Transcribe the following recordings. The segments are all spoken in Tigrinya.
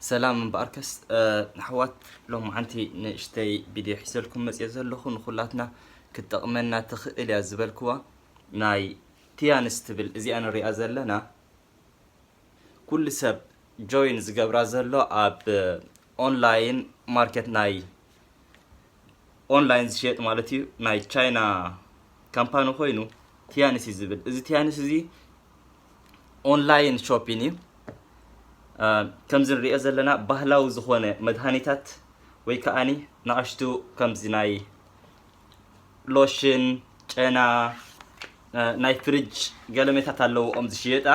ሰላም እምበኣርከስ ኣሕዋት ሎምዓንቲ ንእሽተይ ቪድዮ ሒዘልኩም መፅኦ ዘለኹ ንኹላትና ክትጠቕመና ትኽእል እያ ዝበልክዋ ናይ ቲያንስ ትብል እዚኣ ንሪኣ ዘለና ኩሉ ሰብ ጆይን ዝገብራ ዘሎ ኣብ ኦንላይን ማርኬት ናይ ኦንላይን ዝሸየጥ ማለት እዩ ናይ ቻይና ካምፓኒ ኮይኑ ቲያንስ እዩ ዝብል እዚ ቲያንስ እዚ ኦንላይን ሾፒን እዩ ከምዚ ንሪኦ ዘለና ባህላዊ ዝኾነ መድሃኒታት ወይ ከዓኒ ንኣሽቱ ከምዚ ናይ ሎሽን ጨና ናይ ፍሪጅ ገለሜታት ኣለዎ ኦም ዝሽየጣ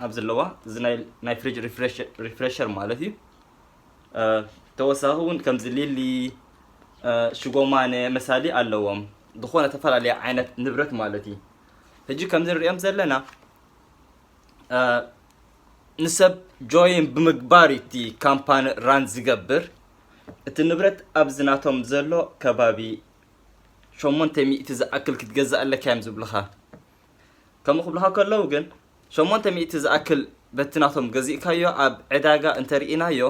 ኣብ ዘለዋ እዚ ናይ ፍሪጅ ሪፍሬሸር ማለት እዩ ተወሳኺ እውን ከምዚ ሊሊ ሽጎማነ መሳሊ ኣለዎም ዝኾነ ተፈላለየ ዓይነት ንብረት ማለት እዩ ሕጂ ከምዚ ንሪኦም ዘለና ንሰብ ጆይን ብምግባር እቲ ካምፓኒ ራን ዝገብር እቲ ንብረት ኣብዚ ናቶም ዘሎ ከባቢ ሸሞንተ ሚእቲ ዝኣክል ክትገዛእ ኣለካ እዮም ዝብልኻ ከምኡ ክብልኻ ከለዉ ግን ሸሞንተ ሚእቲ ዝኣክል በቲ ናቶም ገዚእካዮ ኣብ ዕዳጋ እንተሪኢናዮ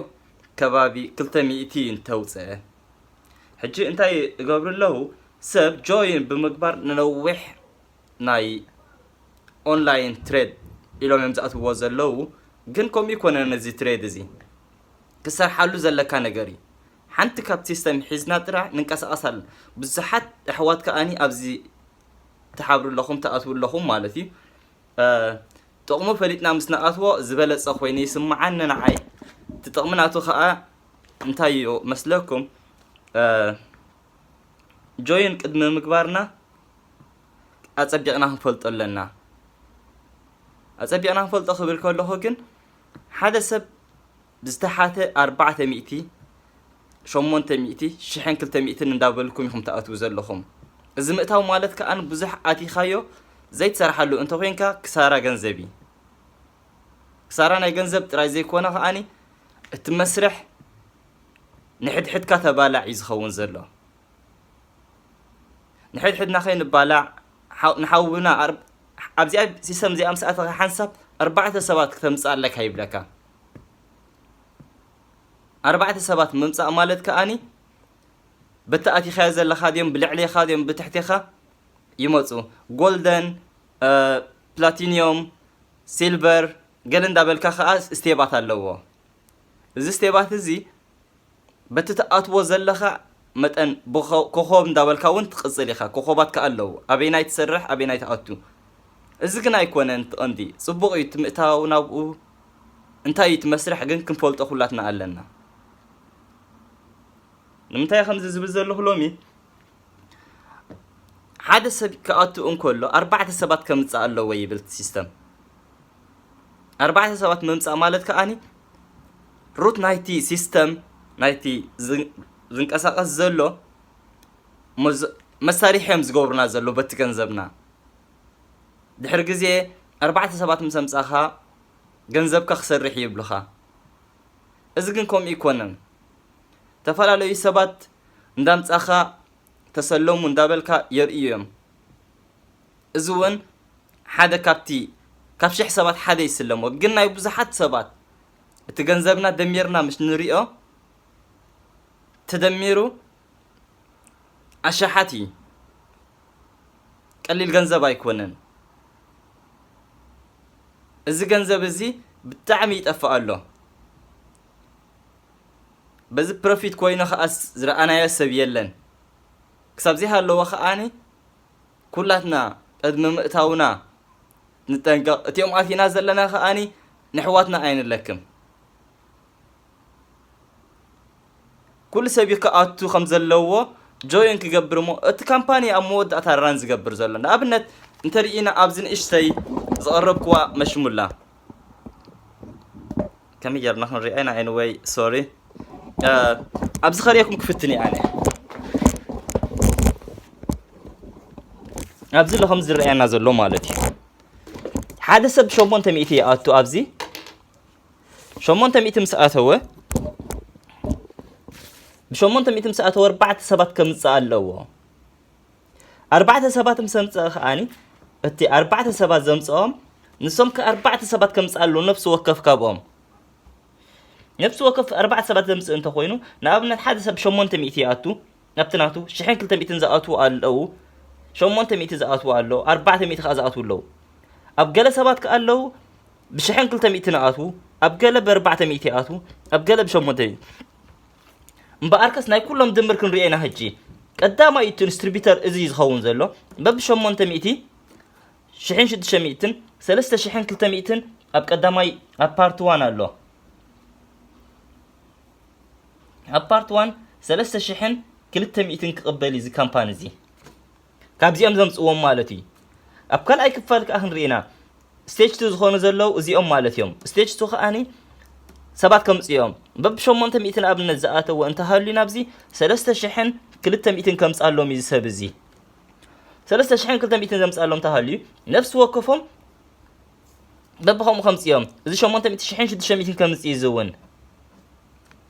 ከባቢ ክልተ ሚእቲ እንተውፀ ሕጂ እንታይ እገብሩ ኣለዉ ሰብ ጆይን ብምግባር ንነዊሕ ናይ ኦንላይን ትሬድ ኢሎም እዮም ዝኣትውዎ ዘለዉ ግን ከምኡ ይኮነን እዚ ትሬድ እዚ ክሰርሓሉ ዘለካ ነገር እዩ ሓንቲ ካብ ሲስተም ሒዝና ጥራሕ ንንቀሳቀስ ኣለ ብዙሓት ኣሕዋት ከኣኒ ኣብዚ ትሓብሩ ኣለኹም ትኣትው ኣለኹም ማለት እዩ ጥቕሙ ፈሊጥና ምስ ንኣትዎ ዝበለጸ ኮይኑ ይስምዓኒ ንዓይ። እቲ ጥቕሚ ናቱ ከኣ እንታይ እዩ መስለኩም? ጆይን ቅድሚ ምግባርና ኣጸቢቕና ክንፈልጦ ኣለና። ኣጸቢቕና ክንፈልጦ ክብል ከለኹ ግን ሓደ ሰብ ዝተሓተ ኣርባዕተ ሚእቲ፣ ሸሞንተ ሚእቲ፣ ሽሕን ክልተ ሚእትን እንዳበልኩም ኢኹም ትኣትዉ ዘለኹም። እዚ ምእታው ማለት ከኣ ብዙሕ ኣቲኻዮ ዘይትሰርሓሉ እንተኾይንካ ክሳራ ገንዘብ እዩ። ክሳራ ናይ ገንዘብ ጥራይ ዘይኮነ ከኣ እቲ መስርሕ ንሕድሕድካ ተባላዕ እዩ ዝኸውን ዘሎ። ንሕድሕድና ከይንባላዕ ንሓውና ኣብዚኣ ሲስተም እዚኣ ምስ ኣተኻ ሓንሳብ ኣርባዕተ ሰባት ክተምጽእ ኣለካ ይብለካ። ኣርባዕተ ሰባት ምምጻእ ማለት ከኣኒ በቲ ኣቲኻዮ ዘለኻ ድዮም ብልዕሌኻ ድዮም ብትሕቴኻ ይመፁ ጎልደን ፕላቲኒዮም ሲልቨር ገለ እንዳበልካ ከዓ ስቴባት ኣለዎ እዚ ስቴባት እዚ በቲ ትኣትዎ ዘለኻ መጠን ኮኾብ እንዳበልካ ውን ትቕጽል ኢኻ ኮኾባት ከኣ ኣለዉ ኣበየናይ ትሰርሕ ኣበየናይ ትኣቱ እዚ ግን ኣይኮነን እቲ ቀንዲ ጽቡቕ እዩ እቲ ምእታው ናብኡ እንታይ እዩ እቲ መስርሕ ግን ክንፈልጦ ኩላትና ኣለና ንምንታይ ከምዚ ዝብል ዘለኹ ሎሚ ሓደ ሰብ ክኣቱ እንከሎ ኣርባዕተ ሰባት ከምጽእ ኣለዎ ይብል ሲስተም ኣርባዕተ ሰባት ምምጻእ ማለት ከኣኒ ሩት ናይቲ ሲስተም ናይቲ ዝንቀሳቐስ ዘሎ መሳሪሒ እዮም ዝገብሩና ዘሎ በቲ ገንዘብና ድሕሪ ግዜ ኣርባዕተ ሰባት ምስ ኣምጻኻ ገንዘብካ ክሰርሕ እዩ ይብልኻ እዚ ግን ከምኡ ይኮነን ተፈላለዩ ሰባት እንዳምጻኻ ተሰለሙ እንዳበልካ የርእዩ እዮም እዚ እውን ሓደ ካብቲ ካብ ሽሕ ሰባት ሓደ ይስለሞ ግን ናይ ብዙሓት ሰባት እቲ ገንዘብና ደሚርና ምስ ንሪኦ ተደሚሩ ኣሻሓት እዩ ቀሊል ገንዘብ ኣይኮነን እዚ ገንዘብ እዚ ብጣዕሚ ይጠፍእ ኣሎ በዚ ፕሮፊት ኮይኑ ከዓስ ዝረኣናዮ ሰብ የለን ክሳብ ዘይሃለዎ ከዓኒ ኩላትና ቅድሚ ምእታውና ንጠንቀቕ እቲኦም ኣቲና ዘለና ከኣኒ ንሕዋትና ኣይንለክም ኩሉ ሰብ እዩ ክኣቱ ከም ዘለዎ ጆይን ክገብር እሞ እቲ ካምፓኒ ኣብ መወዳእታ ራን ዝገብር ዘሎ ንኣብነት እንተርኢና ኣብዚ ንእሽተይ ዝቐረብክዋ መሽሙላ ከመይ ጌርና ክንሪኣ ኢና ኤኒወይ ሶሪ ኣብዚ ከሪኤኩም ክፍትን እየ ኣነ ኣብዚ ኣሎ ከም ዝረኣየና ዘሎ ማለት እዩ ሓደ ሰብ ሸሞንተ ሚእቲ ይኣቱ ኣብዚ ሸሞንተ ሚእቲ ምስ ኣተወ ብሸሞንተ ሚእቲ ምስ ኣተወ ኣርባዕተ ሰባት ከምፅእ ኣለዎ ኣርባዕተ ሰባት ምስ ኣምጸኣ ከኣኒ እቲ ኣርባዕተ ሰባት ዘምጸኦም ንሶም ከ ኣርባዕተ ሰባት ከምጽእ ኣለዎ ነፍሲ ወከፍ ካብኦም ነፍሲ ወከፍ ኣርባዕተ ሰባት ዘምጽእ እንተኾይኑ ንኣብነት ሓደ ሰብ ሸሞንተ ሚእቲ ይኣቱ ናብቲ ናቱ ሽሕን ክልተ ሚእትን ዝኣትዉ ኣለዉ ሸሞንተ ሚእቲ ዝኣትዉ ኣለዉ ኣርባዕተ ሚእቲ ከዓ ዝኣትዉ ኣለዉ ኣብ ገለ ሰባት ከዓ ኣለዉ ብሽሕን ክልተ ሚእቲ ንኣትዉ ኣብ ገለ ብኣርባዕተ ሚእቲ ይኣትዉ ኣብ ገለ ብሸሞንተ እምበኣርከስ ናይ ኩሎም ድምር ክንሪኦ ኢና ሕጂ ቀዳማይ እቲ ኢንስትሪቢተር እዚ እዩ ዝኸውን ዘሎ በብ ሸሞንተ ሚእቲ ሽሕን ሽዱሽተ ሚእትን ሰለስተ ሽሕን ክልተ ሚእትን ኣብ ቀዳማይ ኣብ ፓርት ዋን ኣሎ ኣብ ፓርት ዋን ሰለስተ ሽሕን ክልተ ሚእትን ክቕበል እዩ እዚ ካምፓኒ እዚ ካብዚኦም ዘምጽዎም ማለት እዩ ኣብ ካልኣይ ክፋል ከኣ ክንርኢ ኢና ስቴጅ ቱ ዝኾኑ ዘለው እዚኦም ማለት እዮም ስቴጅ ቱ ከኣኒ ሰባት ከምጽኡ እዮም በብ ሸሞንተ ሚእቲ ንኣብነት ዝኣተዎ እንተሃልዩ ናብዚ ሰለስተ ሽሕን ክልተ ሚእትን ከምጻሎም እዩ ዝሰብ እዚ ሰለስተ ሽሕን ክልተ ሚእትን ዘምጻሎም እንተሃልዩ ነፍሲ ወከፎም በብኸምኡ ከምጽኦም እዚ ሸሞንተ ሚእቲ ሽሕን ሽዱሽተ ሚእትን ከምጽእ እዩ ዝውን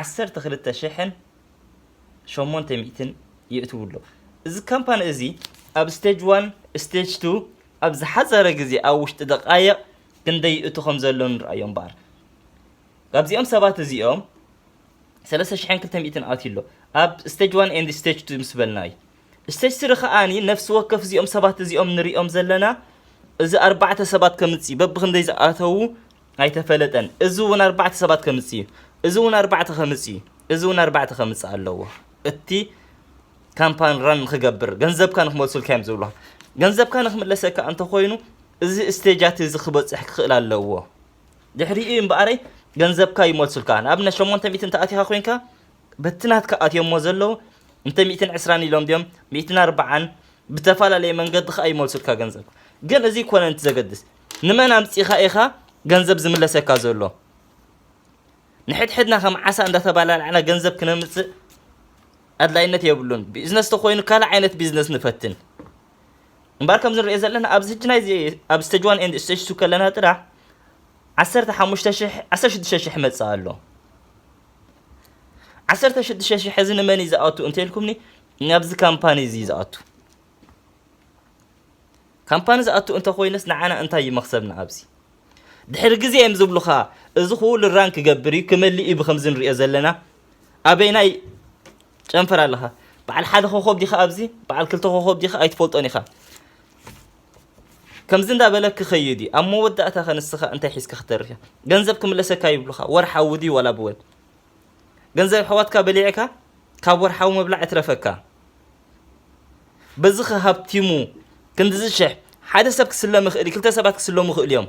ዓሰርተ ክልተ ሽሕን ሸሞንተ ሚእትን የእትው ኣሎ። እዚ ካምፓኒ እዚ ኣብ ስቴጅ ዋን ስቴጅ ቱ ኣብ ዝሓፀረ ግዜ ኣብ ውሽጢ ደቃየቕ ክንደይ ይእቱ ከም ዘሎ ንርኣዮ እምበኣር ካብዚኦም ሰባት እዚኦም ሰለስተ ሽሕን ክልተ ሚእትን ኣትዩ ኣሎ ኣብ ስቴጅ ዋን ኤንድ ስቴጅ ቱ ምስ በልና እዩ Stage Three ከኣ ነፍሲ ወከፍ እዚኦም ሰባት እዚኦም ንርእዮም ዘለና እዚ ኣርባዕተ ሰባት ከምጽእ በብክንደይ ዝኣተዉ ኣይተፈለጠን። እዚ እውን ኣርባዕተ ሰባት ከምጽእ እዩ። እዚ እውን ኣርባዕተ ከምጽእ እዩ። እዚ እውን ኣርባዕተ ከምጽእ ኣለዎ። እቲ ካምፓን ራን ንክገብር ገንዘብካ ንክመልሱልካ እዮም ዝብሉ። ገንዘብካ ንክምለሰካ እንተኮይኑ እዚ ስቴጃት እዚ ክበጽሕ ክኽእል ኣለዎ። ድሕሪኡ እምበኣረይ ገንዘብካ ይመልሱልካ። ንኣብነት 800 እንተኣቲኻ ኮንካ በቲ ናትካ ኣትዮሞ ዘለዉ እንተ ሚእትን ዕስራን ኢሎም ድዮም ሚእትን ኣርባዓን ብተፋላለየ መንገዲ ከኣ ይመልሱልካ ገንዘብ ግን እዚ ኮነን እቲ ዘገድስ ንመን ኣምጺኻ ኢኻ ገንዘብ ዝምለሰካ ዘሎ ንሕድሕድና ከም ዓሳ እንዳተባላላዕና ገንዘብ ክነምጽእ ኣድላይነት የብሉን ቢዝነስ ተኮይኑ ካልእ ዓይነት ቢዝነስ ንፈትን እምበር ከምዚ ንሪኦ ዘለና ኣብዚ ሕጂ ናይዚ ኣብ ስተጅ ዋን ኤንድ ስተጅ ቱ ከለና ጥራሕ ዓሰርተ ሓሙሽተ ሽሕ ዓሰርተ ሽዱሽተ ሽሕ መፅእ ኣሎ ዓሰርተ ሽዱሽተ ሽሕ እዚ ንመን እዩ ዝኣቱ እንተልኩምኒ ናብዚ ካምፓኒ እዚ ዝኣቱ ካምፓኒ ዝኣቱ እንተኮይነስ ንዓና እንታይ እዩ መክሰብና ኣብዚ ድሕሪ ግዜ እዮም ዝብሉኻ እዚ ኩሉ ራን ክገብር እዩ ክመልእ እዩ ብከምዚ ንሪኦ ዘለና ኣበይናይ ጨንፈር ኣለኻ በዓል ሓደ ኮኸብ ዲኻ ኣብዚ በዓል ክልተ ኮኸብ ዲኻ ኣይትፈልጦን ኢኻ ከምዚ እንዳ በለ ክከይድ እዩ ኣብ መወዳእታ ከ ንስካ እንታይ ሒዝካ ክትተርፍ እያ ገንዘብ ክምለሰካ ይብሉካ ወርሓዊ ድዩ ዋላ ብወል ገንዘብ ኣሕዋትካ በሊዕካ ካብ ወርሓዊ መብላዕ እትረፈካ በዚ ከ ሃብቲሙ ክንድዚ ሽሕ ሓደ ሰብ ክስለም ይኽእል እዩ ክልተ ሰባት ክስለሙ ይኽእሉ እዮም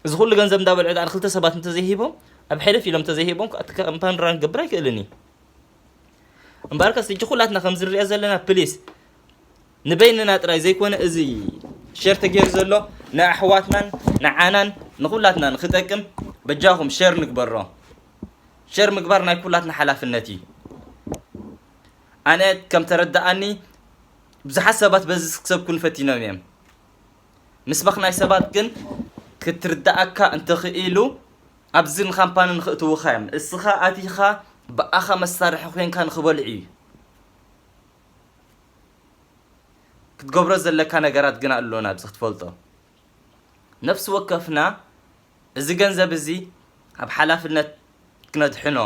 እዚ ኩሉ ገንዘብ እንዳበልዑ ዳኣ ክልተ ሰባት እንተዘይሂቦም ኣብ ሕልፍ ኢሎም እንተዘይሂቦም እቲ ካምፓኒ ራን ክገብር ኣይክእልን እዩ እምበኣርከስ ሕጂ ኩላትና ከምዚ ንሪኦ ዘለና ፕሊስ ንበይንና ጥራይ ዘይኮነ እዚ ሸር ተገይሩ ዘሎ ንኣሕዋትናን ንዓናን ንኹላትናን ክጠቅም በጃኹም ሸር ንግበሮ። ሸር ምግባር ናይ ኩላትና ሓላፍነት እዩ። ኣነ ከም ተረዳኣኒ ብዙሓት ሰባት በዚ ክሰብኩን ፈቲኖም እዮም ምስባኽ ናይ ሰባት ግን ክትርዳኣካ እንተኽኢሉ ኣብዚ ንካምፓኒ ንክእትውኻ እዮም እስኻ ኣቲኻ ብኣኻ መሳርሒ ኮንካ ንክበልዑ እዩ ክትገብሮ ዘለካ ነገራት ግና ኣሎና ኣብዚ ክትፈልጦ ነፍሲ ወከፍና እዚ ገንዘብ እዚ ኣብ ሓላፍነት ክነድሕኖ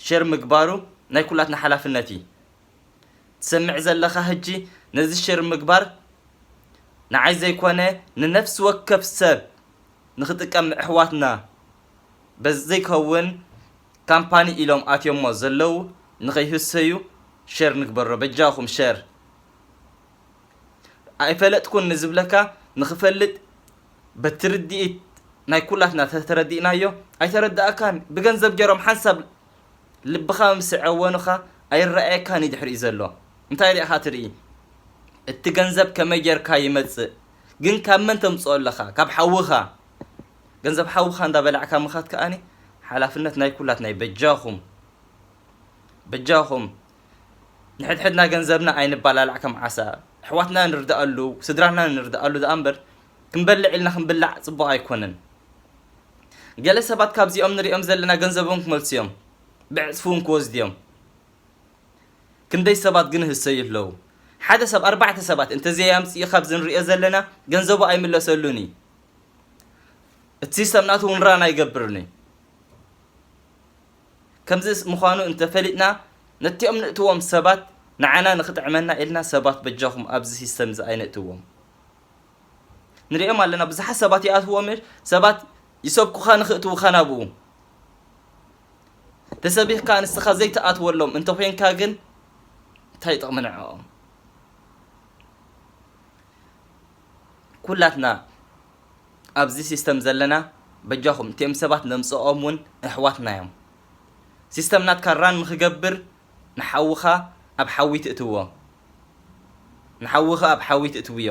ሸር ምግባሩ ናይ ኩላትና ሓላፍነት እዩ ትሰምዕ ዘለኻ ህጂ ነዚ ሸር ምግባር ንዓይ ዘይኮነ ንነፍሲ ወከፍ ሰብ ንክጥቀም ኣሕዋትና በዘይከውን ካምፓኒ ኢሎም ኣትዮሞ ዘለው ንከይህሰዩ ሸር ንግበሮ በጃኩም ሸር ኣይፈለጥኩን ንዝብለካ ንክፈልጥ በቲ ርዲኢት ናይ ኩላትና ተተረዲእናዮ ኣይተረዳኣካን ብገንዘብ ገሮም ሓንሳብ ልብካ ምስ ዐወኑካ ኣይረኣየካን እዩ ድሕሪኡ ዘሎ እንታይ ሪኢካ ትርኢ እቲ ገንዘብ ከመይ ገርካ ይመፅእ ግን ካብ መን ተምፅኦ ኣለካ ካብ ሓውካ ገንዘብ ሓውካ እንዳ በላዕካ ምኻት ከኣኒ ሓላፍነት ናይ ኩላትና እዩ በጃኹም በጃኹም ንሕድሕድና ገንዘብና ኣይንባላላዕ ከም ዓሳ ኣሕዋትና ንርዳኣሉ ስድራና ንርዳኣሉ ደኣ እምበር ክንበልዕ ኢልና ክንብላዕ ጽቡቕ ኣይኮነን ገለ ሰባት ካብዚኦም ንሪኦም ዘለና ገንዘቦም ክመልሱ እዮም ብዕፅፊ እውን ክወስዱ እዮም ክንደይ ሰባት ግን ህሰዩ ኣለዉ ሓደ ሰብ ኣርባዕተ ሰባት እንተዘይ ኣምፅኡ ካብዚ ንሪኦ ዘለና ገንዘቡ ኣይምለሰሉን እዩ እቲ ሲስተም ናቱ እውን ራን ኣይገብርን እዩ ከምዚ ምዃኑ እንተፈሊጥና ነቲኦም ንእትዎም ሰባት ንዓና ንክጥዕመና ኢልና ሰባት በጃኹም ኣብዚ ሲስተም እዚ ኣይነእትዎም ንሪኦም ኣለና ብዙሓት ሰባት ይኣትዎም ሰባት ይሰብኩኻ ንክእትውኻ ናብኡ ተሰቢኽካ ንስኻ ዘይትኣትወሎም እንተኮይንካ ግን እንታይ ጥቕሚ ንዕኦም ኩላትና ኣብዚ ሲስተም ዘለና በጃኹም እቲኦም ሰባት ነምጽኦም ውን እሕዋትና እዮም ሲስተም ናትካ ራን ንኽገብር ንሓውኻ ኣብ ሓዊ ትእትዎ ንሓውኺ ኣብ ሓዊ ትእትውዮ